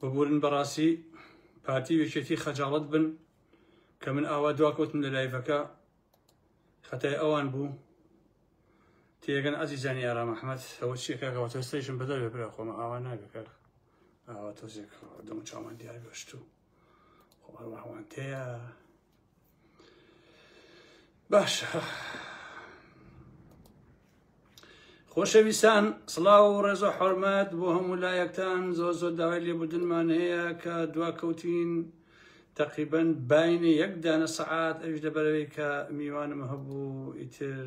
ببورن بەڕاستی پارتی و یەکێتی خەجاڵەت بن کە من ئاوا دواکەوتم لە لایڤەکە خەتای ئەوان بوو تێگەن ئازیزانی ئارام ئەحمەد ئەوە چیەکەەوە تۆستەیشم بەدەر بێ برا خۆمە ئاوا ناگەکە ئاوا تۆزێک دەم چامان دیار بەشتوو ئەوانتەیە باشە خۆشەویستان سڵاو و ڕێزە حرمەت بۆ هەموو لایەکتان زۆ زۆر داوای لێبدنمان هەیە کە دواکەوتین تقریبن باینە یەک دانە سەعات ئەوش لەبەرەوەی کە میوانم هەبوو ئیتر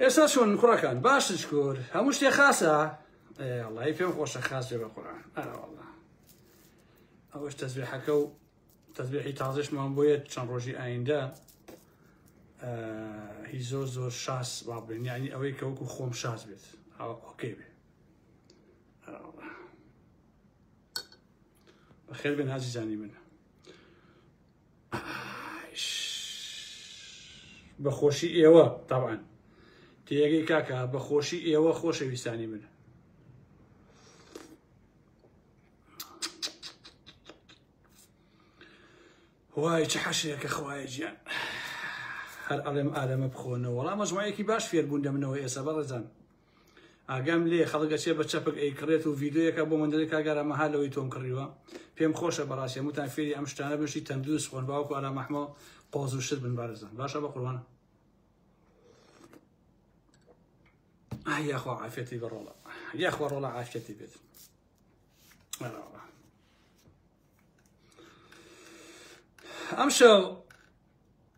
ئێستا چۆن کوڕەکان باش شکور هەموو شتێ خاصە وڵی پێم خۆشە خاصێ بە قورآن ئەرەوەڵا ئەوەش تەزبێحەکە و تەزبێحی تازشمان بۆیە چەند ڕۆژی ئایندە هی زۆر زۆر شاس وا بێن یعنی ئەوەی کەوەکو خۆم شاز بێت ئۆکەی بێ بەخێر بێن هازی زانی منە بە خۆشی ئێوە تاوان تێگەی کاکە بە خۆشی ئێوە خۆشەویستانی من وای چ حەشێکە خوایە گیان هەر ئەڵێم ئالەمە بخۆنەوە وەڵام مەژمایەکی باش فێربوون دەمنەوە ئێسە بەڕێزان ئاگام لێ خەڵک ئەچێ بە چەپک ئەیکڕێت و ڤیدیۆیەکە بۆ من دەرێت کاک ئارام مەها لەوەی تۆم کڕیوە پێم خۆشە بەڕاستی هەمووتان فێری ئەم شتانە بن شتی تەندروست خۆن باوەکو ئارام ئەحمە قۆز و شت بن بارزان باشە بە قوربان ئای یاخوا عافیەتی بە ڕۆڵە یاخوا ڕۆڵە عافیەتی بێت بەراوە. ئەم شەو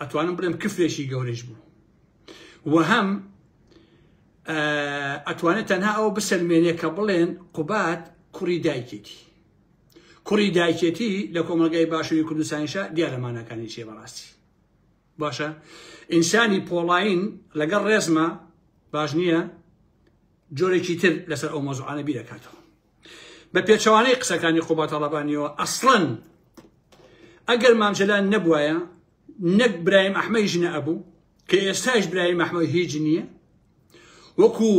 ئەتوانم بڵێم کفرێکی گەورەش بوو وەهەم ئەتوانێت تەنها ئەوە بسەلمێنێ کە بڵێن قوبات کوڕی دایکێتی کوڕی دایکێتی لە کۆمەلگای باشووری کوردستانیشە دیارەمانەکانی چێ بەڕاستی باشە ئینسانی پۆڵین لەگەڵ ڕێزمە باش نییە جۆرێکی تر لەسەر ئەو مەزوعانە بیرەکاتەوە بە پێچەوانەی قسەکانی قوباد تاڵەبانیەوە ئەسڵەن ئەگەر مام جەلال نەبوایە نەک برایم ئەحمەی ژنە ئەبوو کە ئێستاش برایم ئەحمە هیچ نییە وەکو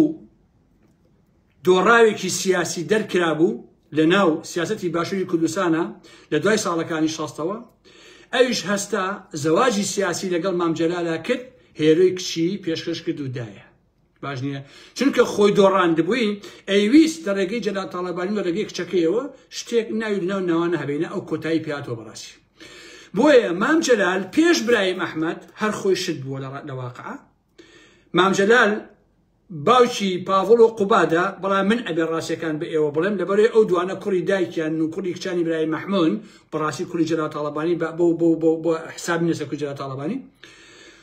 دۆڕاوێکی سیاسی دەرکرا بوو لە ناو سیاستی باشووری کوردستانە لە دوای ساڵەکانی شەستەوە ئەویش هەستا زەواجی سیاسی لەگەڵ مام جەلالە کرد هێروی کچی پێشکەش کرد و دایە باش نییە چونکە خۆی دۆڕاندبووی ئەیویست لە ڕێگەی جەلا تاالبانی لە ڕێگەی کچەکەیەوە شتێک ناوی ناو ناوانە هەبینە ئەو کۆتایی پیاتەوە بەڕاستی بۆیە مام جەلال پێش برایم ئەحمد هەر خۆی شت بووە لە ڕات لەواقع مام جەلال باوکی پاڤڵ و قوبادە بەڵام من ئەبێ ڕاستەکان بە ئێوە بڵێم لەبەرەی ئەو دوانە کوڕی دایکیان و کوڕی کچانی برای مەحمون بەڕاستی کوری جەلا تاالبانی بە بۆ بۆ بۆ بۆ حساب نێسە کو جەلا تاالبانی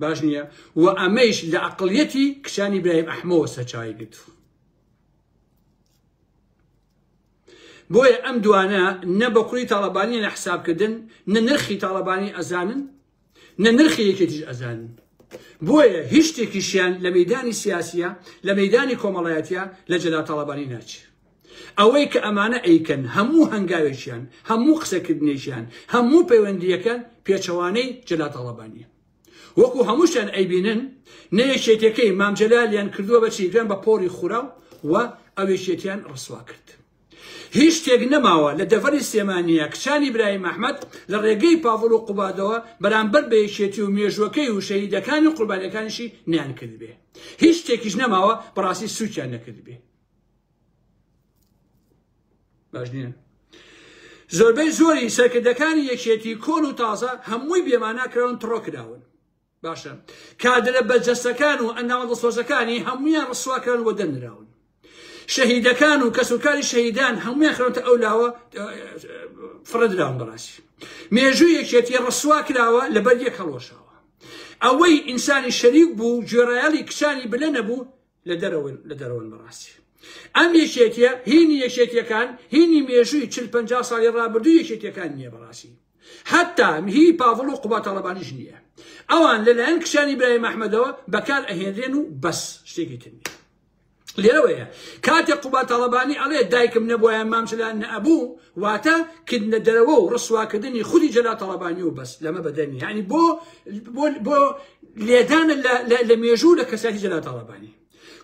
باش نییە و ئەمەیش لە ئەقڵیەتی کچانی برایم ئەحمەوە سەرچاوی گرتووە بۆیە ئەم دوانە نە بە کوڕی تاڵەبانی لە حسابکردن نە نرخی تاڵەبانی ئەزانن نە نرخی یەکێتیش ئەزانن بۆیە هیچ شتێکیشیان لە مەدانی سیاسیە لە مەدانی کۆمەڵایەتە لە جەلا تاڵەبانی ناچێت ئەوەی کە ئەمانە ئەیکەن هەموو هەنگاوێکیان، هەموو قسەکردنێکیان، هەموو پەیوەندییەکان پێچەوانەی جەلال تاڵەبانییە. وەکو هەمووشیان ئەیبینن نە یەکێتیەکەی مام جەلالیان کردووە بە چی گران بە پۆڕی خوراو و ئەو یەکێتیان ڕسوا کرد. هیچ شتێک نەماوە لە دەڤەری سلێمانییە کچانی برایم ئەحمەد لە ڕێگەی پاڤڵ و قوبادەوە بەرامبەر بە یەکێتی و مێژووەکەی و شەهیدەکانی و قوربانیەکانیشی نەیان کردبێ. هیچ شتێکیش نەماوە بەڕاستی سوکیان نەکردبێ. باش نییە زۆربەی زۆری سەرکردەکانی یەکێتی کۆن و تازە هەمووی بێماناکراون تڕۆ کراون باشە کادرە بەجەستەکان و ئەندامە دەسۆزەکانی هەمویان ڕسواکران وە دەنراون شەهیدەکان و کەسوکاری شەهیدان هەمویان خرۆتە ئەو لاوە فرەدراون بەڕاستی مێژوو یەکێتی ڕسوا کراوە لەبەر یەک هەڵۆشاوە ئەوەی ئینسانی شەریک بوو گوێڕایەڵی کچانی بلە نەبوو لە دەرەوەن لە دەرەوەن بەڕاستی ئەم یەکێتیە هینی یەکێتیەکان هینی مێژووی چل پ ساڵی ڕابردوو یەکێتیەکان نییە بەڕاستی حتا هی پاڤڵ و قوباتەڵەبانیش نییە ئەوان لەلایەن کچانی برای مححمەدەوە بەکار ئەهێنرێن و بەس شتێکی تر نیە لێرەوەیە کاتێک قوبا تاڵەبانی ئەڵێ دایکم نەبووە مامچلان نەبوو واتە کردنە دەرەوە و ڕسواکردنی خودی جەلا تاڵەبانی و بەس لەمە بەدەنی هەنی بۆ بۆ لێدانە لە مێژوو لە کەسایەتی جەلال تاڵەبانی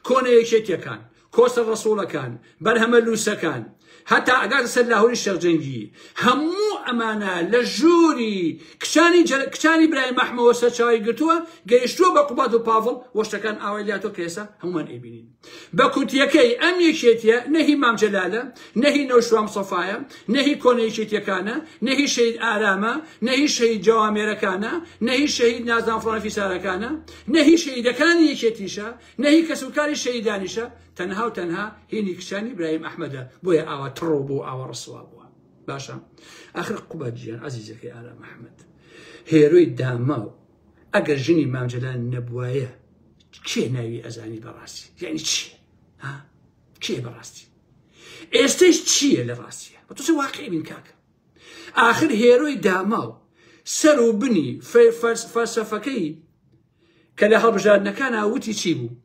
کۆنە یەکێتیەکان کۆسە ڕسوڵەکان بەرهەمە لووسەکان هەتا ئەگات سەر لاهوری شەرجەنگی هەموو ئەمانە لە ژووری کچانی کچانی برای مەحمەوە سەرچاوی گرتووە گەیشتووە بە قوبات و پاڤڵ وەشتەکان ئاوای لاتۆ کە ئێستا هەمومان ئەیبینین بە کورتیەکەی ئەم یەکێتیە نە هی مام جەلالە، نە هی نەوشروان مسەفایە، نە هی کۆنە یەکێتیەکانە، نە هی شەهید ئارامە، نە هی شەهید جەوامێرەکانە، نە هی شەهید نازناو فڵان فیسارەکانە، نە هی شەهیدەکانی یەکێتیشە، نە هی کەس و کاری شەهیدانیشە، تەنها و تەنها هینی کچانی ئیبراهیم ئەحمەدە، بۆیە ئاوا تڕۆ بوو ئاوا ڕسوا بووە. باشە ئاخر قوباد جیان ئازیزەکەی ئارام ئەحمەد هێرۆی داماو ئەگەر ژنی مام جەلال نەبوایە کێ ناوی ئەزانی بەڕاستی یعنی چی ها کێ بەڕاستی ئێستش چییە لە ڕاستیە بە تۆ واقعی بین کاکە آخر هێرۆی داماو سەر و بنی فەلسەفەکەی کە لە هەڵبژاردنەکان ئاوتی چی بوو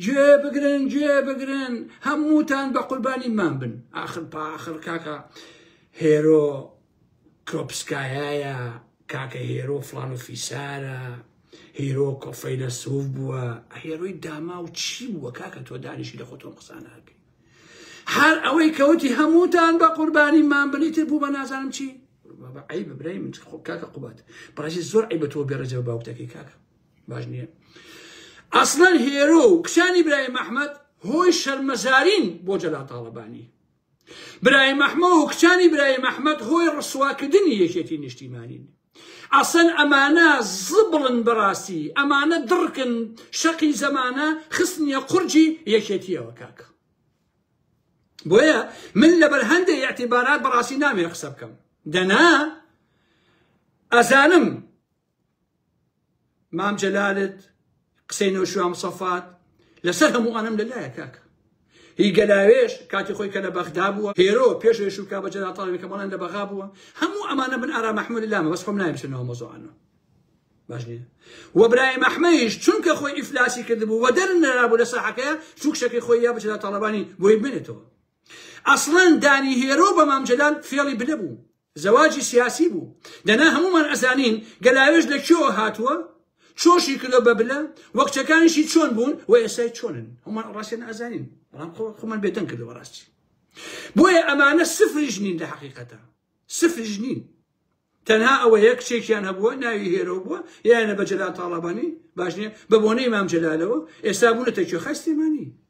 گوێ بگرن گوێ بگرن هەمووتان بە قوربانی من بن آخر پاخر کاکە هێرۆ کروپسکایایە کاکە هێرۆ فڵان و فیسارە هیرۆ کۆ فەیلەسوف بووە هێرۆی داماو چی بووە کاکە تۆ دانیشی لە خۆتۆم قسانەکەی هەر ئەوەی کەوتی هەمووتان بە قوربانی مان بنیتر بوو بە نازانم چی عیب برای من خۆ کاکە قوبات بەڕێزی زۆر عیبە تۆ بێڕێزە بە باوکتەکەی کاکە باش نییە ئەسڵەن هێرۆ و کچانی برای محمد هۆی شەرمەزارین بۆ جەلا تاڵەبانی برایم ئەحمە و کچانی برایم ئەحمەد هۆی ڕسواکردنی یەکێتی نیشتیمانین ئەسەن ئەمانە زبڵن بەڕاستی ئەمانە دڕکن شەقی زەمانە خستنیە قورجی یەکێتیەوە کاکە بۆیە من لەبەر هەندێک یاعتیبارات بەڕاستی نامێ قسە بکەم دەنا ئەزانم مام جەلالت قسەی نۆشوا مسەفات لەسەر هەموو ئەنم لەلایە کاکە هی گەلاوێش کاتی خۆی کە لە بەغدا بووە هێرۆ پێش شوکا بە جەلا تاڵێکە بەڵێن لە بەغا بووە هەموو ئەمانە من ئارا مححمود لامە بەس خۆم نایمشنەوە مۆزۆانە باش نیە و برای مەحمەیش چونکە خۆی ئیفلاسی کردبوو وە دەر نرابوو لە ساحەکە چوک شەکەی خۆی یا بچدا تاڵەبانی بۆی بێنێتەوە ئەسڵەن دانی هێرۆ بە مامجلال فێڵی بلە بوو زەواجی سیاسی بوو دەنا هەموومان ئەزانین گەلاوێژ لە کوێوە هاتووە چۆشی کردۆ بە بلە وەکچەکانیشی چۆن بوون و ئێسای چۆنن هەمووان ڕاستێن ئازانین بەڵام خۆمان بێدەنگ کردەوە ڕاستی بۆیە ئەمانە سفریش نین لە حقیقەتە سفریش نین تەنها ئەوە یەک چێکیان هەبووە ناوی هێرۆ بووە یانە بە جەلال تاڵەبانی باش نیە بە بۆنەی مام جەلالەوە ئێستا بوونەتە کوێ خەستێمانی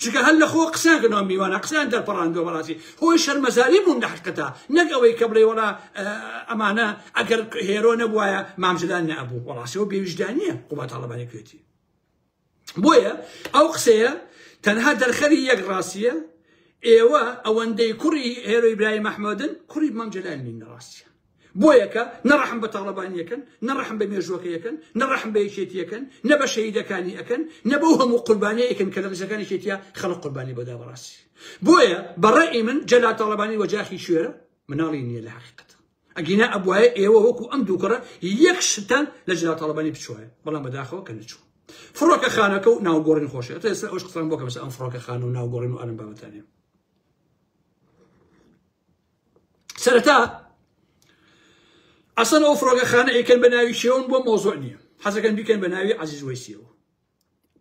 چونکە هەر لە خۆ قسەیان کردنەوە میوانە قسەیان دەرپەڕاندوە بەڕاستی خۆی شەرمەزاری بوون لە حقتا نەک ئەوەی کە بڵێ وەڵا ئەمانە ئەگەر هێرۆ نەبوایە مامجلال نەبوو وەڵاسەوە بێویژدانە قوبات هەڵبانی کوێتی بۆیە ئەو قسەیە تەنها دەرخەری یەک ڕاستیە ئێوە ئەوەندەی کوڕی هێرۆی برای مححمدن کوڕی مامجلال نین ڕاستیە بۆیە کە نە ڕەحم بە تاڵەبانی ئەکەن، نە ڕەحم بە مێژووەکەی ئەکەن، نە ڕەحم بە یەکێتی ئەکەن، نە بە شەهیدەکانی ئەکەن، نە بەو هەموو قوربانیەی ئەکەن کە لە دەستەکانی یەکێتیا خەڵک قوربانی بۆ دا بەڕاستی بۆیە بە ڕەئی من جەلال تاڵەبانی وەجاخی شوێرە مناڵی نیە لە حەقیقەت ئەگینا ئەبوایە ئێوە وەکو ئەم دوو کوڕە یەک شتان لە جەلال تاڵەبانی بچوایە بەڵام بەداخەوە کە نەچوو فڕۆکە خانەکە و ناوگۆڕین خۆشە ئێستا ئەوش قسان بۆ کەمسە ئەم فڕۆکە خانە و ناوگۆڕین و ئەلم بابەتانێ سەرەتا ئەسەن ئەو فڕۆگەخانە ئەیکەن بە ناوی شێون بۆ مۆزۆ نییە حەزەکەن بیکەن بە ناوی عزیز وەسیەوە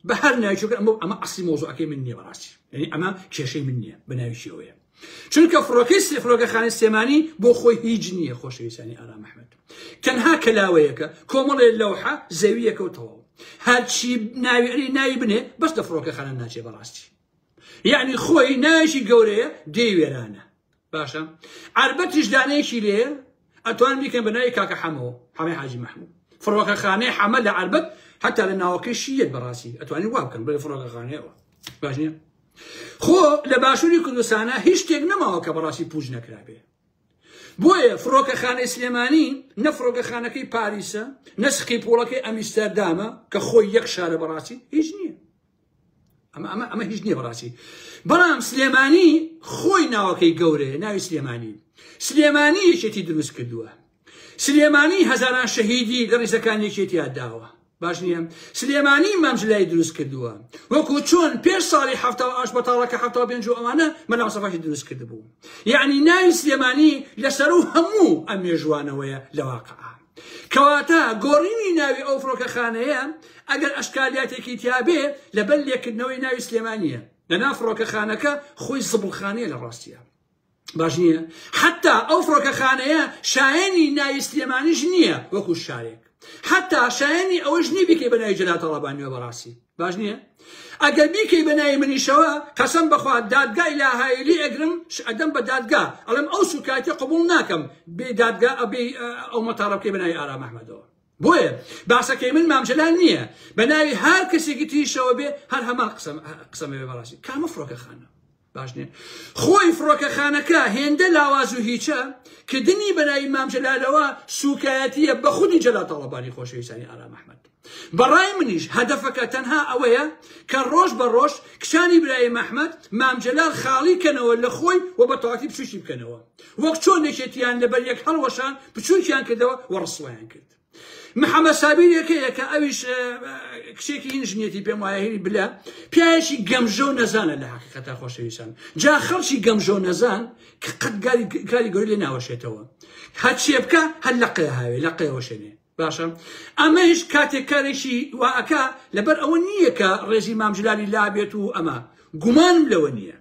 بە هەر ناوچەکە ئەمە ئەمە ئەسی مۆزۆەکەی من نییە بەڕاستی یعنی ئەمە کێشەی من نییە بە ناوی شێوەیە چونکە فڕۆکەی سێ فڕۆگەخانە سێمانی بۆ خۆی هیچ نییە خۆشەویستانی ئارام مححمد تەنها کەلاوەیەکە کۆمەڵێ لەوحە زەویەکە و تەواو هەرچی ناوی ناوی بنێ بەس لە فڕۆکەخانە ناچێ بەڕاستی یەعنی خۆی ناوێکی گەورەیە دێی وێرانە باشە عربەتیش دانەیەکی لێ ئەتوان بیکەن بە ناوی کاکە حەمەوە حەمەی حاجی محمود فڕۆکە خانەی حەمە لە عربەت حتا لە ناوەکەشی یەت بەڕاستی ئەتوانی وا بکەن بڵێ فڕۆکە خانەیەوە باش نیە خۆ لە باشووری کوردستانە هیچ شتێک نەماوە کە بەڕاستی پوج نەکرابێ بۆیە فڕۆکەخانەی سلێمانی نە فڕۆکەخانەکەی پاریسە نەسقی پۆڵەکەی ئەمیستەردامە کە خۆی یەک شارە بەڕاستی هیچ نییە ئەمە ئەمە ئەمە هیچ نییە بەڕاستی بەڵام سلێمانی خۆی ناوەکەی گەورەیە ناوی سلێمانی سلێمانی یەکێتی دروست کردووە سلێمانی هەزاران شەهیدی لە ڕیزەکان یەکێتیا داوە باش نییە سلێمانی مامجلای دروست کردووە وەکو چۆن پێش ساڵی هەفتا ئاش بەتاڵەکە هەفتا پێنج و ئەوانە مەلاسەفاشی دروست کردبوو یعنی ناوی سلێمانی لەسەر و هەموو ئەم مێژوانەوەیە لەواقع کەواتە گۆڕینی ناوی ئەو فڕۆکەخانەیە ئەگەر ئەشکالیاتێکی تیابێ لەبەر لێکردنەوەی ناوی سلێمانیە لەناو فڕۆکەخانەکە خۆی زبڵخانەیە لە ڕاستیا باش نییە حتا ئەو فڕۆکەخانەیە شایەنی ناوی سلێمانیش نییە وەکو شارێک حتا شایەنی ئەوەش نی بکەی بە ناوی جەلاتەڵەبانیەوە بەڕاستی باش نییە ئەگەر بیکەی بە ناوی منیشەوە قەسەم بەخوا دادگای لاهایلی ئەگرم ئەدەم بە دادگا ئەڵم ئەو سوکایەتی قبول ناکەم بێ دادگا ئەبێ ئەو مەتاڵە بکەی بە ناوی ئارام ئەحمەدەوە بۆیە باسەکەی من مامجلال نییە بە ناوی هەر کەسێکی تریشەوە بێ هەر هەمان قسەم قسەمەوێ بەڕاستی کامە فڕۆکەخانە باش نیە خۆی فڕۆکەخانەکە هێندە لاواز و هیچە کردنی بەرای مام جەلالەوە سوکایەتیە بە خودی جەلا تەڵەبانی خۆشەویستانی ئارام ئەحمد بەڕای منیش هەدەفەکە تەنها ئەوەیە کە ڕۆژ بە ڕۆژ کچانی برای مححمد مامجلال خاڵی کەنەوە لە خۆی و بە تاکی بچوکی بکەنەوە وەک چۆن نەکێتیان لەبەر یەک هەڵوەشان بچوکیان کردەوە و ڕسوایان کرد محەمەد سابیر یەکەیەکە ئەویش کچێکی هین ژنێتی پێم وایە هینی بلە پیاەکی گەمژە و نەزانە لە حقیقەتا خۆشەویستان جا خەڵکی گەمژە و نەزان کە قەت کاری گەوری لێ ناوەشێتەوە هەچێ بکە هەر لە قێ هاوێ لە قێوەشێنێ باشە ئەمەش کاتێک کارێکی واکە لەبەر ئەوە نییە کە ڕێژی مامجللی لابێت و ئەمە گومانم لەوە نییە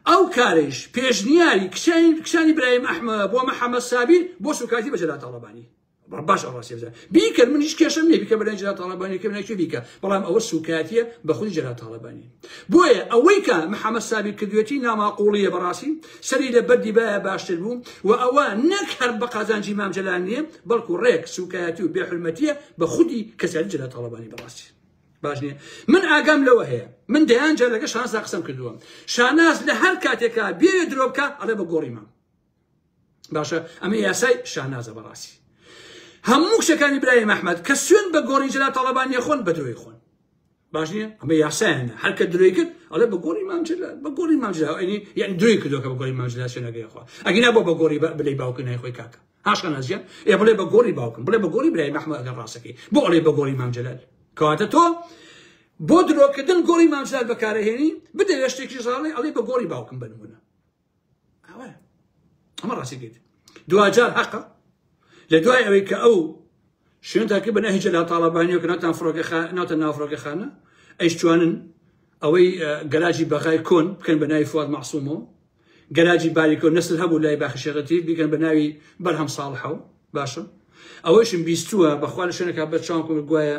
ئەو کارش پێشنیاری کچانی برایم ئەحمە بۆ محەممەد سابیر بۆ سوکاتی بەجللا تاڵەبانی باش ئەڕاستێزە بیکەن منیش کێشم نیە بیکە بەلای جرا تاالبانی کە ناکوێ بیکە بەڵام ئەوە سوکایەتە بە خودی جرا تاالبانی بۆیە ئەوەی کە محەممەد سابی کردوێتی ناماقۆڵیە بەڕاستی سەری لە بەردی بایە باشتر بوو و ئەوە نەک هەر بە قازانجی مامجلال نییە بەڵکو ڕێک سوکایەتی و بێحرمەتیە بە خودی کەسیاری جرا تاالبانی بەڕاستی باش نیە من ئاگام لەوە هەیە من دەیان جا لەگە شانسا قسم کردووە شاناز لە هەر کاتێکا بێ درۆبکە ئەڵێ بە گۆڕیمە باشە ئەمە یاسای شانازە بەڕاستی هەموو شەکانی برای مححمد کە سوێن بە گۆڕی جلا تاڵەبانیە خۆن بە درۆی خۆن باش نیە ئەمە یاسایانە هەرکە درۆی کرد ئەڵێ بە گۆڕی مامجلا بە گۆڕی مامجلا ئەنی یان درۆی کردۆکە بە گۆڕی مامجلا سوێنەکەی خوا ئەگینا بۆ بە گۆڕی بلی باوکە نای خۆی کاکە هاشە نازیە ئێ بڵێ بە گۆڕی باوکم بڵێ بە گۆڕی برای مححمد ئەگەر ڕاستەکەی بۆ ئەڵێ بە گۆڕی مامجلال کەواتە تۆ بۆ درۆکردن گۆڕی مامجلال بەکارەهێنی بدەێشتێکی ژاڵی ئەڵێ بە گۆڕی باوکم بنمونە ئەمە ڕاستی گەیت دواجار حەقە لە دوای ئەوەی کە ئەو شوێن تاکە بە نەهیجە لە تاڵەبانیەوە کە ناتان فڕۆکە ناتە نافڕۆکەخانە ئەیش جوانن ئەوەی گەلاجی بەغای کۆن بکەن بە ناوی فواد مەعسومەوە گەلاجی باریکۆ نسل هەبوو لای باخشێغەتی بیکەن بە ناوی بەرهەم ساڵحەوە باشە ئەوەشم بیستووە بەخوا لە شوێنەکە بە چاوکم گوایە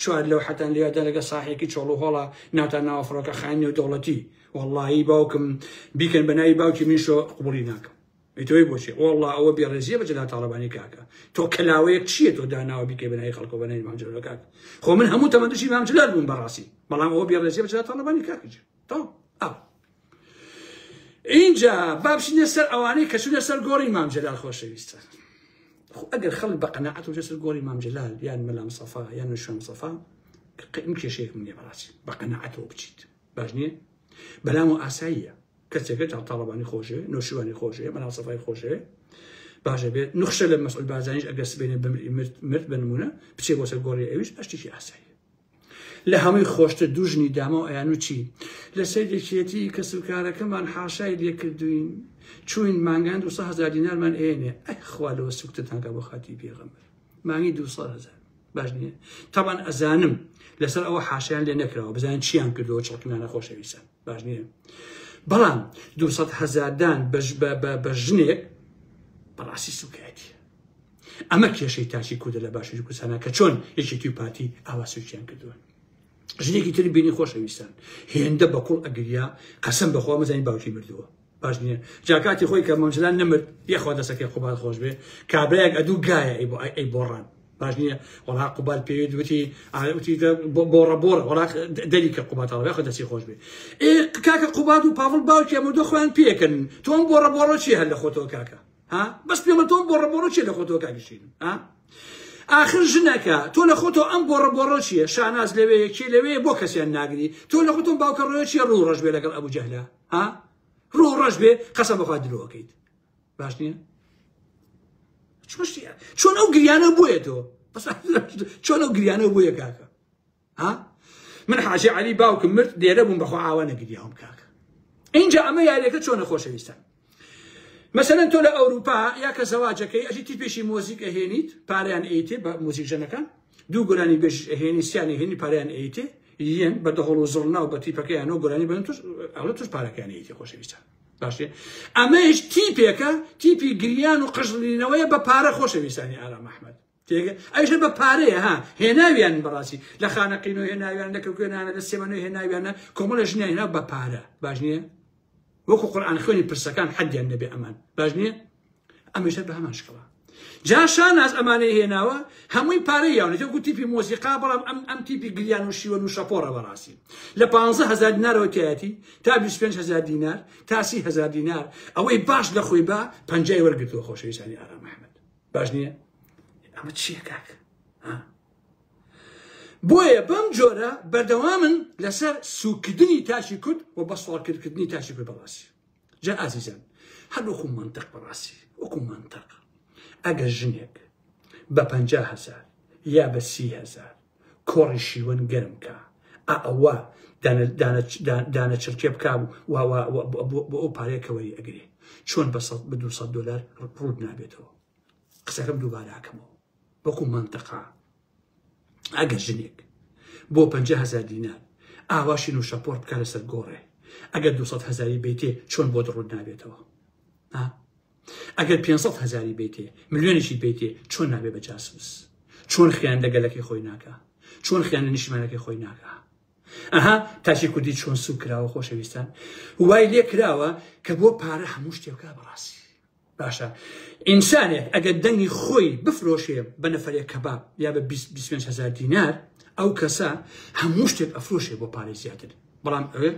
چوار لەوحەتان لێدە لەگە ساحێکی چۆڵ و هۆڵە ناوتان ناوە فڕۆکە خاین نێودەوڵەتی وەڵڵاهی باوکم بیکەن بە ناوی باوکی من شۆ قوبڵی ناکەم ئیتۆی بۆچێ وەڵڵا ئەوە بێڕێزیە بە جەلا تاڵەبانی کاکە تۆ کەلاوەیەک چییە تۆ داناوە بیکەی بە ناوی خەڵکۆ بە ناوی مام جەلال کاک خۆ من هەموو تەمەندشی مام جەلال بووم بەڕاستی بەڵام ئەوە بێڕێزیە بە جەلا تاڵەبانی کاکە جی تەواو ئاو ئینجا با بچینە سەر ئەوانەی کە چونە سەر گۆڕی مام جەلال خۆشەویستە خو ئەگەر خەڵک بە قەنەعەت و سەر گۆڕی مام جەلال یان مەلام سەفا یان نشوم سەفا من کێشەیەک من بەڕاستی بە قەنەعەتەوە بچیت باش نییە بەلام و ئاساییە کەسێکە جا تاڵەبانی خۆشێ نوشیوانی خۆشێ مەلام سەفای خۆشێ باشە بێت نخشە لە مەسعود بازانیش ئەگەر سبێنێ بمری مرد مرد بنمونە بچێ بۆ سەر گۆڕی ئەویش ئەشتێکی ئاسایی لە هەمووی خۆشتر دوو ژنی دامە و ئەیانوو چی لە سەر یەکێتی کەسوکارەکەمان حاشای لێ کردووین چووین مانگان دوو سەد هەزار دینارمان ئەیەنێ ئەی خوا لەوە سوکتتان کە بۆ خاتی پێغەمبەر مانگی دوو سەد هەزار باش نییە تاوان ئەزانم لەسەر ئەوە حاشیان لێ نەکراوە بزانین چیان کردەوە چڵکنانە خۆشەویستان باش نییە بەڵام دوو سەد هەزاردان بە ژنێک بەڕاستی سوکایەتی ئەمە کێشەی تاکی کوردە لە باشوری کوردستانە کە چۆن یەکێتی و پارتی ئاوا سوچیان کردووە ژنێکی تر بینی خۆشەویستان هێندە بە کوڵ ئەگریا قەسم بەخوا مەزانی باوکی مردووە باش نییە جاکاتی خۆی کە مەمجلان نەمرد یەخوا دەسەکەی قوبال خۆش بێ کابراەک ئەدوو گایە ئەی بۆ ئەی بۆڕان باش نییە وڵا قوبال پێوێت وتی ئاوتی بۆڕە بۆڕە وڵا دەری کە قوباتەڵ خۆ دەسی خۆش بێ کاکە قوبات و پاڵ باوکی ئەمە دو خۆیان پێکن تۆم بۆڕە بۆڕە چی هەر لە خۆتەوە کاکە ها بەس پێمە تۆ بۆڕە بۆڕە چێ لە خۆتەوە کاگەشین ها ئاخر ژنەکە تۆ لە خۆتۆ ئەم گۆڕە بۆڕۆ چیە شاناز لەوێ یەکێ لەوێ بۆ کەسیان ناگری تۆ لە خۆتۆم باوکە ڕۆێ چیە ڕوو ڕژ بێ لەگەڵ ئەبوو جەهلا ها ڕوو ڕژ بێ قەسە بەخوا درۆکەیت باش نییە چۆن ئەو گریانە بۆیە تۆ چۆن ئەو گریانە بۆیە کاکە ها من حاجی علی باوکم مرد لێرە بووم بەخوا ئاوا نەگریاوم کاکە اینجا ئەمە یاریەکە چۆنە خۆشەویستان مەسەن تۆ لە ئەوروپا یا کە زەواجەکەی ئەژی تیپێکی مۆزیک ئەهێنیت پاریان ئەیتێ بە موزیک ژەنەکان دوو گۆرانی بێژ ئەهێنی سیانی هێنی پاریان ئەیتێ یەن بە دەهۆڵ و زڵنا و بە تیپەکەیانەوە گۆرانی بن توش ئەڵە توش پارەکانیەتی خۆشەویستان باشێ ئەمەش تیپێکە تیپی گریان و قژڵینەوەیە بە پارە خۆشەویستانی ئارام ئەحمد تێگەی ئەژە بە پارەیە ها هێناویان بەڕاستی لە خانەقینۆ هێناویان لە کەکوێنانە لە سێمەنۆ هێناویانە کۆمەڵە ژنیان هێنا بە پارە باش نییە وەکو قورآان خوێنی پرسەکان حەدیان نەبێ ئەمان باش نییە ئەمەشتر بە هەمان شکڵە جاشان ئاز ئەمانەی هێناوە هەمووی پارەی یاونەجە گو تیپی مۆزیقا بەڵام ئەم ئەم تیپی گریان و شیوە و شەپۆڕە بەڕاستی لە 15هزار دینارەوە تایەتی تا 25هزار دینار تاسی هزار دینار ئەوەی باش لە خۆی بە پنجای وەرگتووە خۆشەویستانی ئارام محمد باش نییە ئەمە چییە کاک ها بۆیە بەم جۆرە بەردەوامن لەسەر سوکردنی تاشی کورد و بە سوڵکردکردنی تاشی کورد بەڕاستی جا ئازیزان هەر وەکو منتەق بەڕاستی وەکو منتەق ئەگەر ژنێک بە پ هزار یا بە سی هزار کۆڕی شیوەن گەرم کا ئا ئەوە دانە چرکێ بکا بۆ ئەو پارەیە کەوەری ئەگرێ چۆن بە بە 200 دلار ڕوود نابێتەوە قسەکەم دووباراکەمەوە وەکو منتەقا ئەگەر ژنێک بۆ 500 دینار ئاواشی و شەپۆر بکە لەسەر گۆڕێ ئەگەر 200 هزاری بیتێ چۆن بۆ دڕوود نابێتەوە ئەگەر پێنج سەد هەزاری بیتێ ملیۆنێکی بیتێ چۆن نابێ بە جاسوس چۆن خیان دەگەلەکەی خۆی ناکە چۆن خیان لە نیشتمانەکەی خۆی ناکە ئەها تاچی کوردی چۆن سوک کراوە خۆشەویستان وای لێ کراوە کە بۆ پارە هەموو شتێکە بەڕاستی باشە ئینسانێک ئەگەر دەنگی خۆی بفرۆشێ بە نەفرێک کەباب یا بە 25 هزار دینار ئەو کەسە هەموو شتێک ئەفرۆشێ بۆ پارەی زیاتر بەڵام ئەوێ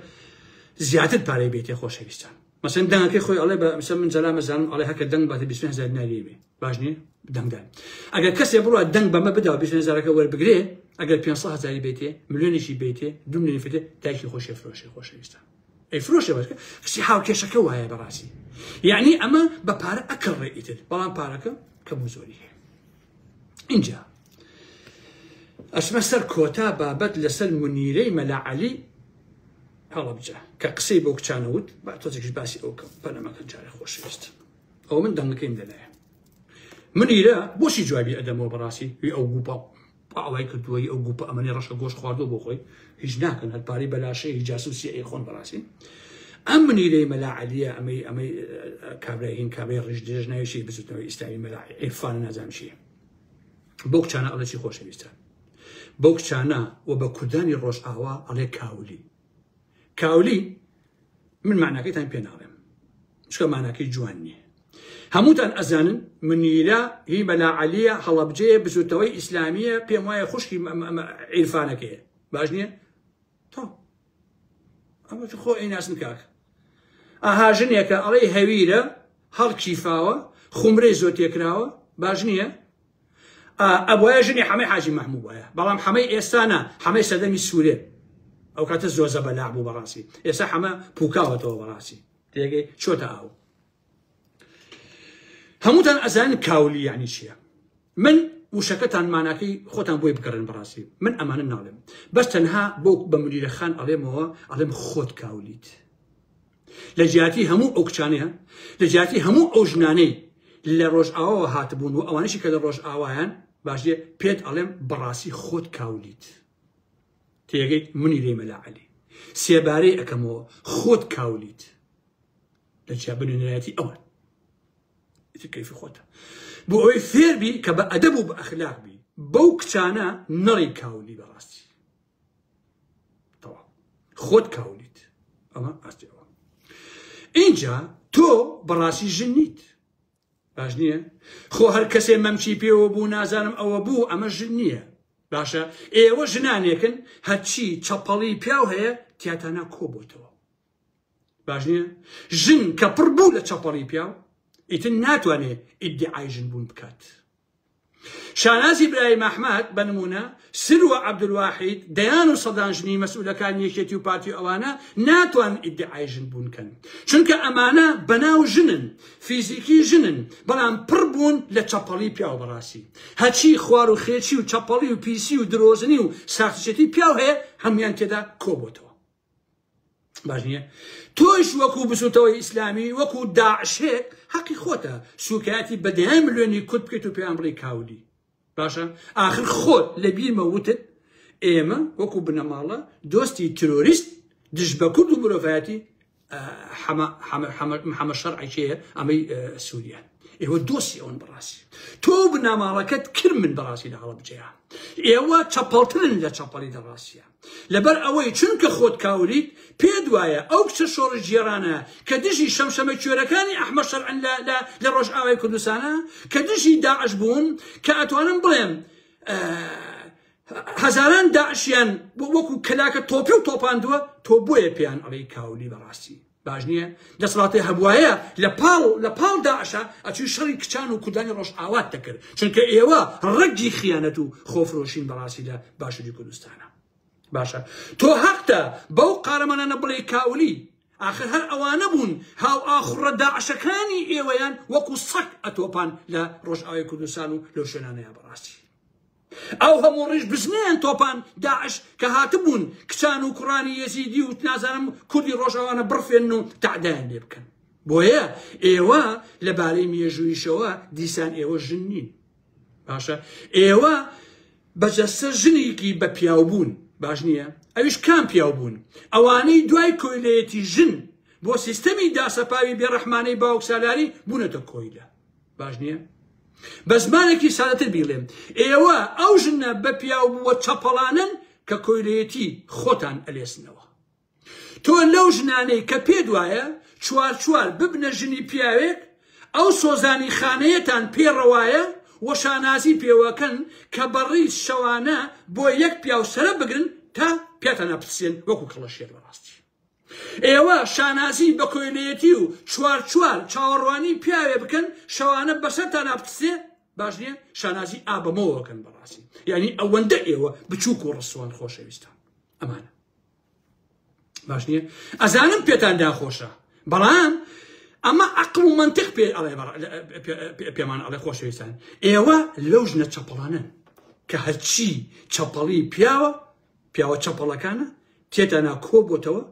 زیاتر پارەی بێتێ خۆشەویستان مەسەن دەنگەکەی خۆی ئەڵێ بە مەسەن من جەلام ئەزانم ئەڵێ هەکە دەنگ باتە 20 هەزار دیناری بێ باش نییە دەنگدان ئەگەر کەسێ بڕوا دەنگ بەمە بدا و 20 هەزارەکە وەربگرێ ئەگەر 500 هەزاری بێتێ ملیۆنێکی بێتێ دو ملیۆنی فێتێ دایکی خۆشێ فرۆشێ خۆشەویستە ئەی فرۆشێ بەرکە کەسی هاوکێشەکە وایە بەڕاستی یعنی ئەمە بە پارە ئەکەڵ ڕێ ئیتر بەڵام پارەکە کەم و زۆری هەیە اینجا ئەچمە سەر کۆتا بابەت لەسەر منیرەی مەلاعەلی هەڵەبجە کە قسەی بەو کچانە وت با تۆزێکش باسی ئەو کەم پەلەمەکە جارێ خۆشەویست ئەو من دەنگەکەیم دەلایە من ئیرە بۆچی جوابی ئەدەمەوە بەڕاستی وی ئەو گوپا ئاڵای کردووەی ئەو گوپە ئەمەنی ڕەشە گۆش خواردو بۆ خۆی هیچ ناکەن هەر پارەی بەلاشەیە هی جاسوسی ئەی خۆن بەڕاستی ئەم منیرەی مەلا عەلیە ئەمەی ئەمەی کابرای هین کابرای ڕژ درێژ ناویشی بزوتنەوەی ئیسلامی مەلا ئێفان نازانشیە بۆ کچانە ئەڵەی خۆشەویستە بەو کچانە و بە کوردانی ڕۆژئاوا ئەڵێ کاولی کاولی من معناکەیتان پێ ناڵێم چکە ماناکەی جوان نییە هەمووتان ئەزانن منیرە هی مەلا عەلیە هەڵەبجەیە بزوتەوەی ئیسلامیە پێم وایە خوشکی عیرفانەکەیە باش نییە تۆ ئەمە خۆ ئەیناسن کاکە ئاها ژنێکە ئەڵێی هەویرە هەڵکیفاوە خومرەی زۆر تێکراوە باش نییە ئەبواە ژنی حەمەی حاجی مەحموو وایە بەڵام حەمەی ئێستانە حەمەی سەدەمی سوورێ ئەو کاتە زۆر زە بەلاع بوو بەڕاستی ئێستا حەمە پوکاوەتەوە بەڕاستی تێگەی چۆتە ئاو هەمووتان ئەزان کاولی یعنی چییە من وشەکەتان ماناکەی خۆتان بۆی بگەڕێن بەڕاستی من ئەمانە ناڵێم بەس تەنها بۆ بە منیرە خان ئەڵێمەوە ئەڵێم خۆت کاولیت لە جیاتی هەموو ئەو کچانەیە لە جیاتی هەموو ئەو ژنانەی لە ڕۆژئاواوە هاتبوون و ئەوانشی کە لە ڕۆژئاوایان باشێ پێت ئەڵێم بەڕاستی خۆت کاولیت تێگەیت منی لێ مەلا عەلی سێبارەی ئەەکەمەوە خۆت کاولیت لە جیابنێنەتی ئەوان ئیتر کەیفی خۆتە بۆ ئەوەی فێر بی کە بە ئەدەب و بە ئەخلاق بی بەو کچانە نەڕی کاولی بەڕاستی خۆت کاولیت ئەمە ئاستەوە اینجا تۆ بەڕاستی ژن نیت باش نییە خۆ هەر کەسێ مەمچی پێوە بوو نازانم ئەوە بوو ئەمە ژن نییە باشە ئێوە ژنانێکن هەرچی چەپەڵی پیاو هەیە تیاتانا کۆبتەوە باش نییە؟ ژن کە پڕ بوو لە چەپەڵی پیاو ئیتر ناتوانێ ئیدیعای ژن بوون بکات. شانازی برایم ئەحمەد بە نمونە سر و عەبدولواحید دەیان و سەدان ژنی مەسئولەکانی یەکێتی و پارتی و ئەوانە ناتوان ئیدعای ژن بوونکەن چونکە ئەمانە بەناو ژنن فیزیکی ژنن بەڵام پڕ بوون لە چەپەڵی پیاو بەڕاستی هەچی خوار و خێچی و چەپەڵی و پیسی و درۆزنی و ساختچێتی پیاو هەیە هەمویان تێدا کۆبتەوە باش نییە تۆش وەکو بزوتەوەی ئیسلامی وەکو داعشێک حەقی خۆتە سوکایەتی بەدەیان ملیۆنی کورد بکەیت و پێیان بڵی کاودی باشە آخر خۆت لە بیرمە وتت ئێمە وەکو بنەماڵە دۆستی ترۆریست دژ بە کورد و مرۆڤایەتی حەمە شەرعێکەیە ئەمەی سووریا ئێوە دۆسی ئەوەن بەڕاستی تۆ بناماڵەکەت کرد من بەڕاستی لە هەڵە بجێ ئێوە چەپەڵترن لە چەپەڵی دەڕاستە لەبەر ئەوەی چونکە خۆت کاولیت پێت وایە ئەو کچە شۆڕشگێڕانە کە دژی شەمشەمە کوێرەکانی ئەحمەد شەرعن لە لە لە ڕۆژئاوای کوردستانە کە دژی داعش بوون کە ئەتوانم بڵێم هەزاران داعشیان وەکو کەلاکە تۆپی و تۆپاندووە تۆ بۆیە پێیان ئەڵێی کاولی بەڕاستی باش نیە دەسڵاتێ هەبوایە لە پاڵ لە پاڵ داعشا ئەچوی شەڕی کچان و کوردانی ڕۆژئاوات دەکرد چونکە ئێوە ڕەگی خیانەت و خۆفرۆشین بەڕاستی لە باشوری کوردستانە باشە تۆ هەقتە بەو قارەمانانە بڵێ کاولی ئاخر هەر ئەوانە بوون هاو ئاخڕە داعشەکانی ئێوەیان وەکو سەک ئەتۆپان لە ڕۆژئاوای کوردستان و لەو شوێنانەیە بەڕاستی ئەو هەموو ڕیش بزنەیان تۆپان داعش کە هاتبوون کچان و کوڕانی یەزیدی و نازانم کوردی ڕۆژاوانە بڕفێن و تەعدایان لێ بکەن بۆیە ئێوە لەبارەی مێژوویشەوە دیسان ئێوە ژن نین باشە ئێوە بەجەسە ژنێکی بە پیاو بوون باش نییە ئەویش کام پیاو بوون ئەوانەی دوای کۆیلەتی ژن بۆ سیستەمی داسەپاوی بێڕەحمانەی باوکسالاری بوونەتە کۆیلە باش نییە؟ بە زمانێکی سادەتر بیڵێم ئێوە ئەو ژنە بە پیاو بووە چەپەڵانن کە کۆیلەتی خۆتان ئەلێسنەوە تۆ لەو ژنانەی کە پێ دوایە چوار چوار ببنە ژنی پیاوێک ئەو سۆزانی خانەیەتان پێڕەوایە وەشانازی پێوەکەن کە بەڕی شەوانە بۆ یەک پیاو سرە بگرن تا پیاتانە پرسێن وەکو کەڵەشێر بەڕاستی ئێوە شانازی بە کۆیلەیەتی و چوار چوار چاوەڕوانی پیاوێ بکەن شەوانە بەسەرتانا بتسێ باش نییە شانازی ئابەمەوەکەن بەڕاستی یعنی ئەوەندە ئێوە بچووک و ڕسوان خۆشەویستان ئەمانە باش نییە ئەزانم پێتان داخۆشە بەڵام ئەمە عقل و منطق پێ ئەڵێ پێمان ئەڵێ خۆشەویستان ئێوە لەو ژنە چەپڵانن کە هەرچی چەپڵی پیاوە پیاوە چەپەڵەکانە تێتانا کۆ بۆتەوە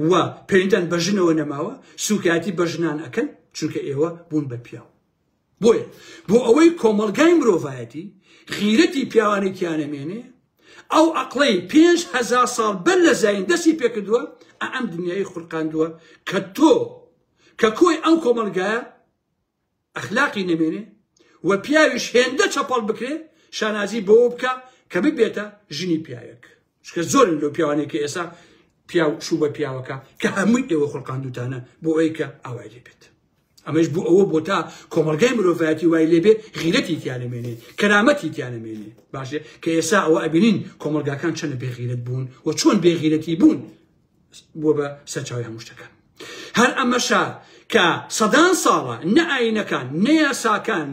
و پێویتان بە ژنەوە نەماوە سوکایەتی بە ژنان ئەکەن چونکە ئێوە بوون بە پیاو بۆیە بۆ ئەوەی کۆمەلگای مرۆڤایەتی خیرەتی پیاوانێکیانەمێنێ ئەو ئەقلەی پێنج هزار ساڵ بەر لە زین دەستی پێکردووە ئەم دنیای خورقاندووە کە تۆ کە کۆی ئەم کۆمەلگایە ئەخلاقی نەمێنێ و پیاویش هێندە چەپەڵ بکرێ شانازی بەوە بکا کە ببێتە ژنی پیاوێک چکە زۆرن لەو پیاوانێک کە ئێسا پیاو شوو بە پیاوەکە کە هەمووی ئێوە خڵقاندوتانە بۆ ئەوەی کە ئاوای لێ بێت ئەمەش بۆ ئەوە بۆ تا کۆمەلگای مرۆڤایەتی وای لێبێ غیرەتی تیانەمێنێ کەرامەتی تیانەمێنێ باشێ کە ئێسا ئەوە ئەبینین کۆمەلگاکان چەنە بێغیرەت بوون و چۆن بێغیرەتی بوون بووە بە سەرچاوی هەموو شتەکان هەر ئەمەشە کە سەدان ساڵە نە ئاینەکان نە یاساکان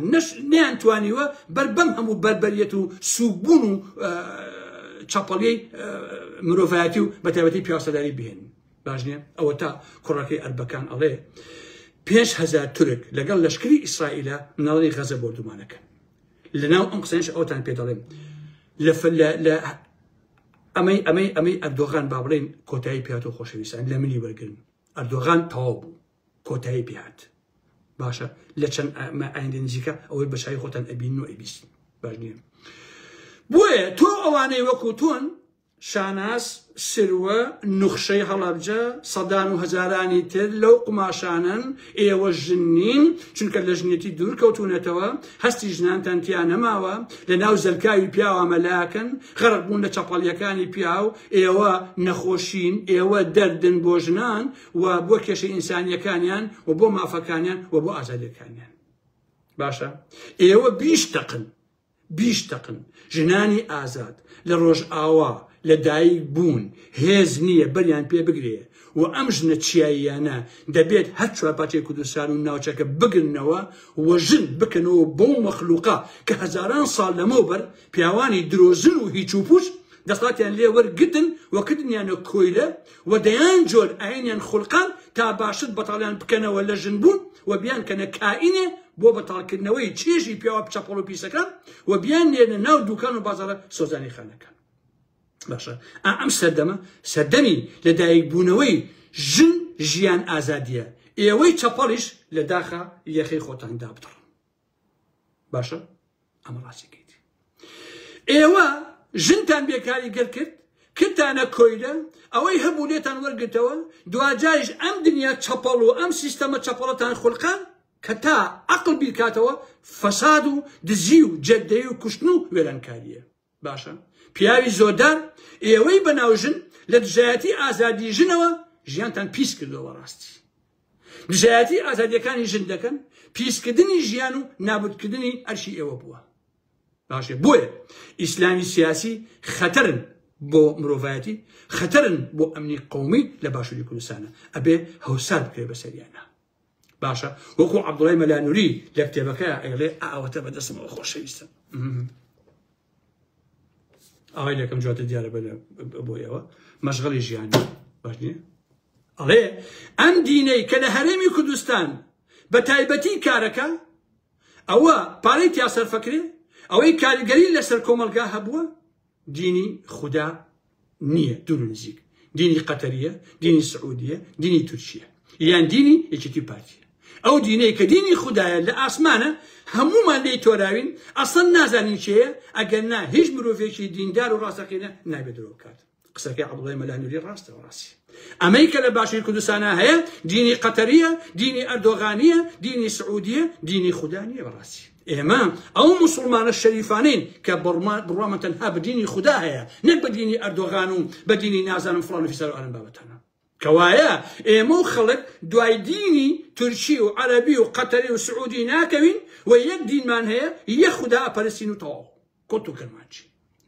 نیان توانیوە بەر بەم هەموو بەربەریەت و سوبوون و چاپەڵی مرۆڤایەتی و بەتابەتی پیاسەداری بهێن باش نیە ئەوە تا کوڕەکەی ئەربەکان ئەڵێ پێش هزار تورک لەگەڵ لەشکری ئیسرائیلە ناڵی غەزە بۆردومانەکە لەناو ئەم قسەش ئەوتان پێ دەڵێم لە ئەمەی ئەمەی ئەمەی ئەردۆغان با بڵێین کۆتایی پێات و خۆشەویستان لە منی وەرگن ئەردۆغان تەواو بوو کۆتایی پێات باشە لە چەند ئایندە نزیکە ئەوەی بەشای خۆتان ئەبین و ئەبیست باش نیە بۆیە تۆ ئەوانەی وەکو تۆن شاناس سروە نوخشەی هەڵەبجە سەدان و هەزارانی تر لەو قماشانن ئێوە ژن نین چونکە لە ژنێتی دوور کەوتونەتەوە هەستی ژنانتان تیا نەماوە لە ناو زەلکاوی پیاوە مەلاکن غەرق بوون لە چەپەڵیەکانی پیاو ئێوە نەخۆشین ئێوە دەردن بۆ ژنان و بۆ کێشە ئینسانیەکانیان و بۆ مافەکانیان و بۆ ئازادیەکانیان باشە ئێوە بیش تەقن بیش تەقن ژنانی ئازاد لە ڕۆژئاوا لە دایک بوون هێز نیە بەریان پێ بگرێ و ئەم ژنە چیاییانە دەبێت هەر چوار پارچەی کوردستان و ناوچەکە بگرنەوە و ژن بکەنەوە بەو مەخلوقە کە هەزاران ساڵ لەمەو بەر پیاوانی درۆزن و هیچ و پوچ دەسڵاتیان لێ وەرگرتن و کردنیانە کۆیلە و دەیان جۆر ئاینیان خولقاند تا باشتر بەتاڵیان بکەنەوە لە ژن بوون و بیانکەنە کائینێ بۆ بەتاڵ کردنەوەی چێژی پیاوە چەپەڵ و پیسەکان و بیان نێرنە ناو دوکان و بازارە سۆزانی خانەکان باشە ئا ئەم سەردەمە سەردەمی لە دایک بوونەوەی ژن ژیان ئازادیە ئێوەی چەپەڵیش لە داخا یەخەی خۆتان دابدڕن باشە ئەمە ڕاستەکەیت ئێوە ژنتان بێکاری گەر کرد کردانە کۆیلە ئەوەی هەبوو لێتان وەرگتەوە دواجاش ئەم دنیا چەپەڵ و ئەم سیستەمە چەپەڵەتان خولقان کە تا عقل بیرکاتەوە فەساد و دزی و جەدەی و کوشتن و وێرانکاریە باشە پیاوی زۆردار ئێوەی بەناو ژن لە دژایەتی ئازادی ژنەوە ژیانتان پیس کردەوە بەڕاستی دژایەتی ئازادیەکانی ژن دەکەن پیسکردنی ژیان و نابودکردنی ئەرشی ئێوە بووە باشێ بۆیە ئیسلامی سیاسی خەتەرن بۆ مرۆڤایەتی خەتەرن بۆ ئەمنی قومی لە باشووری کوردستانە ئەبێ هەوسات بکرێ بەسەریانە باشە وەکو عەبدوڵای مەلانوری لە کتێبەکە ئەیڵێ ئاوەتە بە دەستمەوە خۆشەویستن ئاوای لەکەم جواتە دیارە بۆ ئێوە مەشغڵی ژیانی باش نیە ئەڵێ ئەم دینەی کە لە هەرێمی کوردستان بە تایبەتی کارەکە ئەوە پارەی تیا سەرفەکرێ ئەوەی کاریگەری لەسەر کۆمەلگا هەبووە دینی خودا نیە دور و نزیک دینی قەتەریە دینی سعودیە دینی تورکیە یان دینی یەکێتی پارتی ئەو دینەی کە دینی خوددایە لە ئاسمانە هەمومان لێی تۆراوین ئەسڵەن نازانین چێە ئەگەر نا هیچ مرۆڤێکی دیندار و ڕاستەقینە نابێ درۆ بکات قسەکەی عەبدوڵای مەلانوری ڕاستە و ڕاستی ئەمەی کە لە باشووری کوردستانە هەیە دینی قەتەریە دینی ئەردۆغانیە دینی سعودیە دینی خوددا نیە بەڕاستی ئێمە ئەو موسوڵمانە شەریفانەین کە بڕوامان تەنها بە دینی خودا هەیە نەک بە دینی ئەردۆغان و بە دینی نازانم فڵان و فیسار و ئەم بابەتانە کەوایە ئێمە و خەڵک دوای دینی تورکی و عەرەبی و قەتەری و سعودی ناکەوین و یەک دینمان هەیە یەک خودا ئەپەرستین و تەواو قوت و کرمانج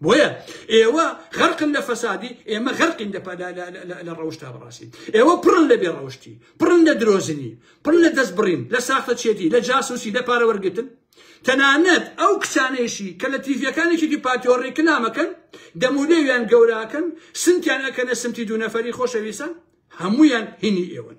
بۆیە ئێوە غەرقن لە فەسادی ئێمە غەرقین لە ڕەوشتا بەڕاستی ئێوە پڕن لە بێ ڕەوشتی پڕن لە درۆزنی پڕ لە دەست بڕین لە ساختە چێتی لە جاسوسی لە پارە وەرگتن تەنانەت ئەو کچانێشی کە لە تیڤەکانێکێکی پاتیۆ ڕیکلامەکەن دەمولێویان گەوراکەن سنتیان ئەکەنە سمتی دوو نەفەری خۆشەویستە هەمویان هینی ئێوەن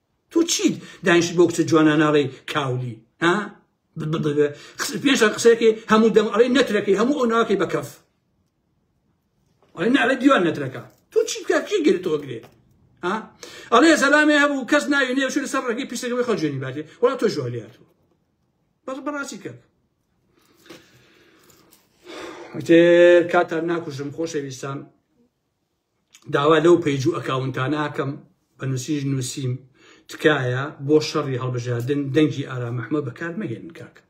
تۆ چیت دانیشت بۆ کچە جوانان ئاڵێی کاولی ها پێنج قسەکەی هەموو دەم ئەڵێ نەترەکەی هەموو ئەو ناکەی بە کەف ئەڵێ نەڵێ دیوان نەترەکە تۆ چی بکە چی گرێ تۆ گرێ ها ئەڵێ زەلامێ هەبوو کەس ناوی نێ شوێن سەر ڕێگەی پیسەکەی خەڵ جوێنی باتێ وڵات تۆ ژۆ لێ هاتوو بەڵ بەڕاستی کەک کاتان ناکوژم خۆشەویستان داوا لەو پەیج و ئەکاونتانە ئەکەم بە نووسیژ نووسیم تکایە بۆ شەڕی هەڵبژاردن دەنگی ئارام ئەحمە بەکار مەهێنن کاکە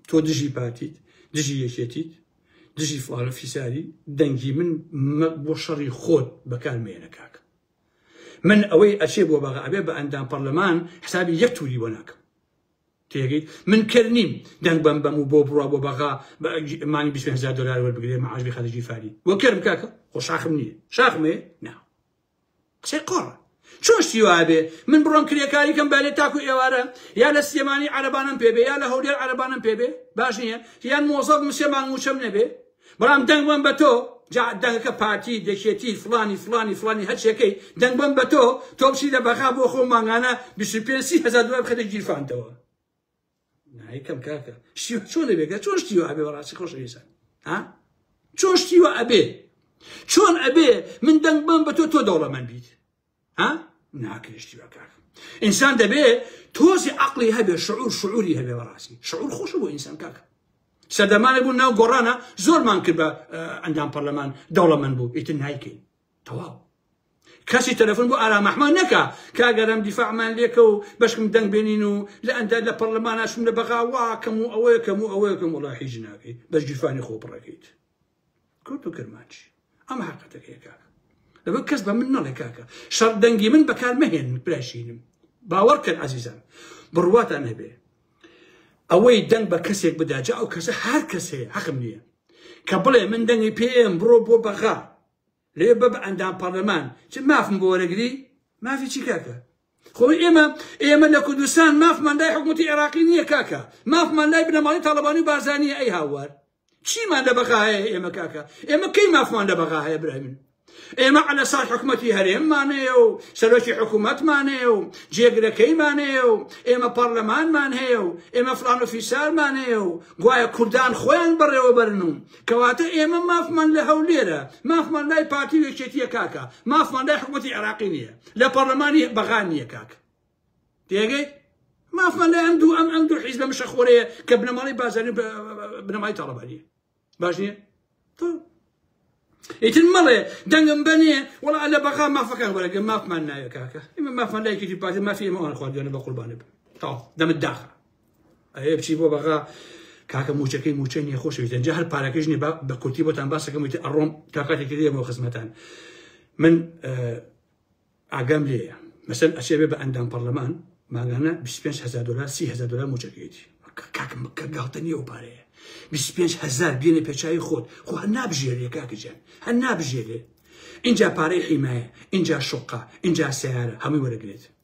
تۆ دژی پارتیت دژی یەکێتیت دژی فڵانە فیساری دەنگی من بۆ شەڕی خۆت بەکار مێنە کاکە من ئەوەی ئەچێ بۆ بەغا ئەبێ بە ئەندام پەرلەمان حسابی یەک تووری بۆ ناکەم تێگەیت من کەر نیم دەنگ بەم بەم و بۆ بڕوا بۆ بەغا بە مانی بیست و پێنج هەزار دۆلار وەربگرێ معاش بی خەرجی فاری وە کەرم کاکە خۆ شاخم نییە شاخم هەیە نا قسەی قۆڕە چۆن شتی وایە بێ من بڕۆم کرێکاری کەم بالێ تاکو ئێوارە یا لە سلێمانی عەرەبانەم پێ بێ یا لە هەولێر عەرەبانەم پێ بێ باش نییە یان مۆزەف مسێ مانگ مووچەم نەبێ برام دەنگ بەم بەتۆ جا دەنگەکە پارتی دەکێتی فڵانی فڵانی فڵانی هەرچیەکەی دەنگ بەم بەتۆ تۆ بچی لە بەغا بۆ خۆ مانگانە بیست و پێنج سی هەزار دلار بخەیتە گیرفانتەوە نایکەم کاکە شتی چۆن دەبێت چۆن شتی ئەبێ بەڕاستی خۆش ئێسان ها چۆن شتی ئەبێ چۆن ئەبێ من دەنگ بەم بە تۆ تۆ دەوڵەمەند بیت ها ناکرێشتیوە کاک ئینسان دەبێ تۆزی عقلی هەبێ شعور شعوری هەبێ بەڕاستی شعور خۆش بۆ ئینسان کاک سەردەمانە بوو ناو گۆڕانە زۆرمان کرد بە ئەندام پەرلەمان دەوڵەمەند بوو ئیتر نایکەین تەواو کەسی تەلەفۆن بۆ ئارام ئەحمان نەکە کاگەرم دیفاعمان لێکە و بەشکم دەنگ بێنین و لە ئەندە لە پەرلەماناشم لە بەغاواکەم و ئەوەیەکەم و ئەوەیەکەم وڵا حیژ ناکەیت بەش گیرفانی خۆ بڕەکەیت کورد و کرمانج ئەمە حقەتەکەی کاکە لەبەر کەس بە من نەڵێ کاکە شەڕ دەنگی من بەکار مەهێن براشینم باوەڕ کرد عزیزان بڕواتان هەبێ ئەوەی دەنگ بە کەسێک بدا جا ئەو کەسە هەر کەسێ حەقم نییە کە بڵێ من دەنگی پێم بڕۆ بۆ بەغا لەوێ بە بە ئەندام پەڕلەمان چ مافم بۆ وەرەگری مافی چی کاکە خۆی ئێمە ئێمە لە کوردستان مافمان لای حکوومەتی عێراقی نییە کاکە مافمان لای بنەماڵی تاڵەبانی و بارزانیە ئەی هاوار چیمان لە بەغا هەیە ئێمە کاکە ئێمە کەی مافمان لە بەغا هەیە برای من ئێمە عە لە ساڵ حکوومەتی هەرێممانەیە و سەرۆکی حکوومەتمانەیە و جێگرەکەیمانەیە و ئێمە پەرلەمانمان هەیە و ئێمە فلان و فیسارمانەیە و گوایە کوردان خۆیان بەڕێوەبەرن و کەواتە ئێمە مافمان لە هەولێرە، مافمان لای پارتی و یەکێتییە کاکە، مافمان لای حکومەتی عێراقی نییە، لە پەڕلەمانی بەغا نییە کاکە. تێگەیت؟ مافمان لای ئەم دوو ئەم ئەم دوو حیزبە مشەخۆرەیە کە بنەماڵەی بازاری بنەمای تاڵەبانیە باش نییە؟ تۆ ئیتر مەڵێ دەنگم بەنێ وڵا لە بەغا مافەکان وەرەگە مافمان ناوێ کاکە ئمە مافمان لایکیی پارتی مافی ئمەوان خواردوێنە بە قوربانە بن تاو دەمت داخە ئەێ بچی بۆ بەغا کاکە موچەکەی موچەی نیە خۆشەویست جا هەر پارەکەش نیە بە کورتی بۆتان باسەکەم وتی ئەڕۆم تا کاتێکی دێمەوە خزمەتان من ئاگام لێە مەسەن ئەچێ بێ بە ئەندام پەرلەمان ماگانە 25هزار دلار 3هزار دلار موچەکەیتی کاکم کە گاڵتە نیە و پارەیە 25هزار بێنە پێچوی خۆت خۆ هەر نابژێرێ کاکەجان هەر نابژێرێ اینجا پارەی حیمایە اینجا شقا اینجا سیارە هەمووی وەرەگرێت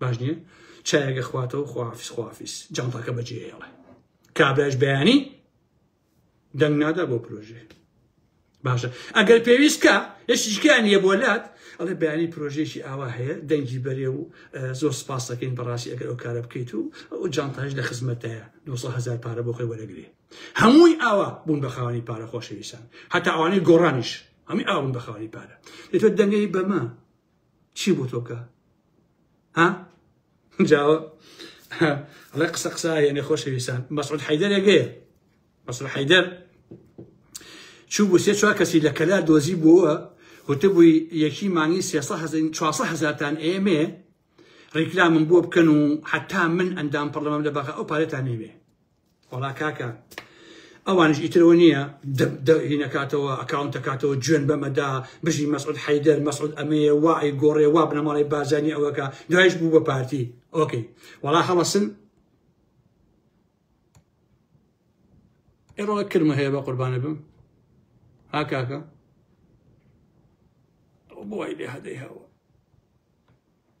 باش نییە چایەکە خواتەوە خواافیس خواافیس جانتاکە بەجێ هێڵێ کابراش بەیانی دەنگ نادا بۆ پرۆژێ باشە ئەگەر پێویستکە یشتیشکیان نیە بۆ لات ئەڵێ بەیانی پرۆژێکی ئاوا هەیە دەنگی بەرێ و زۆر سپاس دەکەین بەڕاستی ئەگەر ئەو کارە بکەیت و ئەو جانتاش لە خزمەتەیە 900هزار پارە بۆ خۆی وەرەگرێ هەمووی ئاوا بوون بە خاوەنی پارە خۆشەویستان هەتا ئەوانەی گۆڕانیش هەمی ئاون بە خاوەنی پارە دەتوێت دەنگی بەمە چی بوو تۆکە ها جاوە ئەڵێ قسە قسە یەنێ خۆشەویستان مەسعود حەیدەرێگەیە مەسعود حەیدەر چوو بوو سێ چوار کەسی لە کەلار دۆزی بووە وتبووی یەکی مانگی سێ هزار چوار هزارتان ئێمێ ڕیکلامم بۆ بکەن و حتا من ئەندام پەرلەمەم لە بەغا ئەو پارێتان نەوێ وەڵا کاکە ئەوانش ئیترەوە نییە دەهینەکاتەوە ئەکاونتەکاتەوە جوێن بەمەدا بژی مەسعود حەیدەر مەسعود ئەمەیە وای گۆڕێ وا بنەماڵی بازانی ئەوەکە دوایش بوو بە پارتی ئۆکەی وەڵا هەڵەسن ئێڕۆ کرمە هەیە بە قوربانە بم ها کاکە بۆی لێ هەدەی هەوە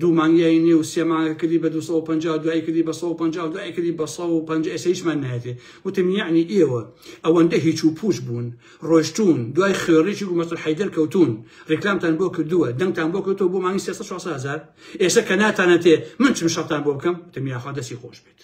دوو مانگ یای نیو سێ مانگە کردی بە دوو سەد و پەنجا دوایی کردی بە سەد و پەنجا دوایی کردی بە سەد و پەنجا ئێستا هیچمان نایەتێ وتم یەعنی ئێوە ئەوەندە هیچ و پوچ بوون ڕۆشتون دوای خوێڕیی گومەسەر حەیدەر کەوتون ڕیکلامتان بۆ کردووە دەنگتان بۆ کەوتەوە بۆ مانگی سێ سەد چوار سەد هەزار ئێستا کە ناتانەتێ من چم شەڕتان بۆ بکەم وتم یاخوا دەستی خۆش بێت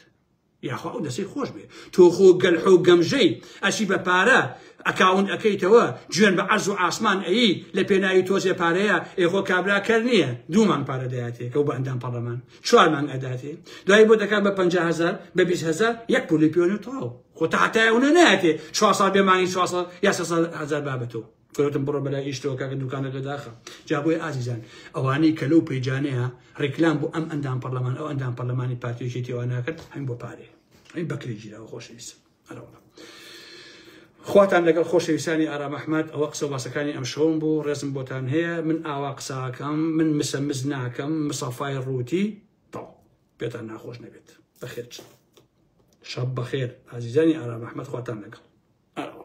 یاخوا ئەو دەسەی خۆش بێ تۆ خۆ گەلحۆ و گەمژەی ئەچی بە پارە ئەکاونت ئەکەیتەوە جوێن بە عەرز و ئاسمان ئەیی لە پێناوی تۆزێ پارەیە ئێ خۆ کابرا کەر نییە دوو مانگ پارە دەیاتێ کە و بە ئەندام پەڕەمان چوار مانگ ئەداتێ دوای بۆ دەکات بە پەنجا هەزار بە بیست هەزار یەک پولی پێوەنە تەواو خۆ تەحتایە ونە نایەتێ چوار ساڵ بێ مانگی چوار ساڵ یا سێ ساڵ هەزار بابەتەوە گۆتم بڕۆ بەلای ئیشتەوە کاکە دوکانەکە داخە جا بۆیە ئازیزان ئەوانەی کە لەو پەیجانەیە ڕیکلام بۆ ئەم ئەندام پەرلەمان ئەو ئەندام پەرلەمانی پارتی یەکێتیەوە ناکرد هەین بۆ پارێ ئەی بەکرێ گیراوە خۆشەویستم ئەرەوە خواتان لەگەڵ خۆشەویستانی ئارام ئەحمد ئەوە قسە باسەکانی ئەم شەوم بوو ڕێزم بۆتان هەیە من ئاوا قساکەم من مسەمز ناکەم مسەفای ڕووتی تاو پێتان ناخۆش نەبێت بەخێر شەب بەخێر ئازیزانی ئارام ئەحمد خواتان لەگەڵ ئەرەوە